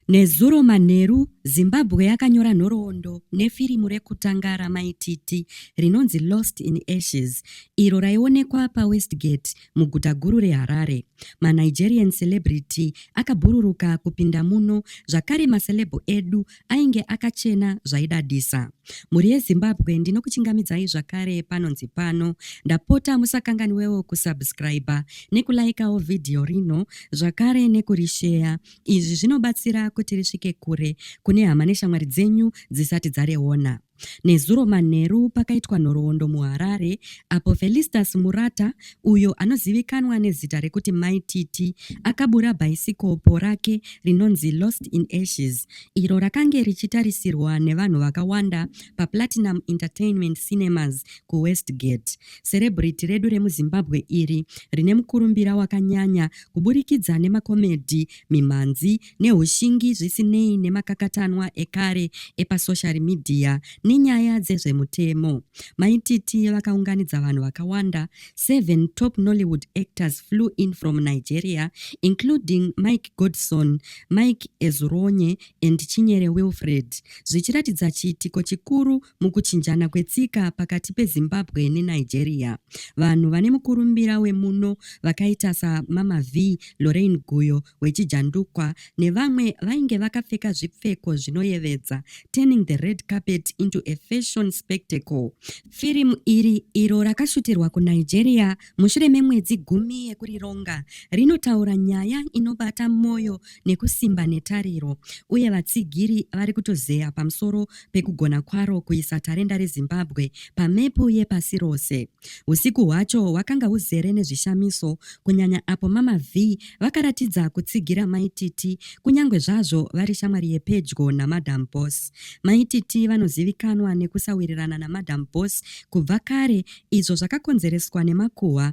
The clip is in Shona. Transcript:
Nezuro manheru, Zimbabwe yakanyora nhoroondo nefirimu rekutanga raMai Titi rinonzi Lost in Ashes iro raionekwa paWestgate muguta guru reHarare. MaNigerian celebrity akabhururuka kupinda muno zvakare maceleb edu ainge akachena zvaidadisa. Mhuri yeZimbabwe ndinokuchingamidzai zvakare panonzi pano. Ndapota musakanganwewo kusubscriber nekulaikawo vhidhiyo rino zvakare nekurisheya Izvi zvinobatsira kuti risvike kure kune hama neshamwari dzenyu dzisati dzariona. Nezuro manheru pakaitwa nhoroondo muHarare apo Felistas Murata uyo anozivikanwa nezita rekuti Mai Titi akabura bhaisikopo rake rinonzi Lost in Ashes iro rakange richitarisirwa nevanhu vakawanda paPlatinum Entertainment Cinemas kuWestgate. Serebrity redu remuZimbabwe iri rine mukurumbira wakanyanya kuburikidza nemakomedhi, mimhanzi nehushingi zvisinei nemakakatanwa ekare epasoshari midhiya nenyaya dzezvemutemo. Mai Titi vakaunganidza vanhu vakawanda, seven top Nollywood actors flew in from Nigeria including Mike Godson, Mike Ezuronye and Chinyere Wilfred zvichiratidza chiitiko chikuru Mukuchinjana kwetsika pakati peZimbabwe neNigeria, vanhu vane mukurumbira wemuno vakaita saMama Vee, Lorraine Guyo weChijandukwa nevamwe vainge vakapfeka zvipfeko zvinoyevedza, turning the red carpet into a fashion spectacle. Firimu iri, iro rakashutirwa kuNigeria mushure memwedzi gumi yekurironga, rinotaura nyaya inobata mwoyo nekusimba netariro uye vatsigiri vari kutozeya pamusoro pekugona kwaro kuisa tarenda reZimbabwe pamepu yepasi rose. Usiku hwacho hwakanga huzere nezvishamiso kunyanya apo Mama Vee vakaratidza kutsigira Mai Titi kunyange zvazvo vari shamwari yepedyo naMadam Boss. Mai Titi vanozivikanwa nekusawirirana naMadam Boss kubva kare izvo zvakakonzereswa nemakuhwa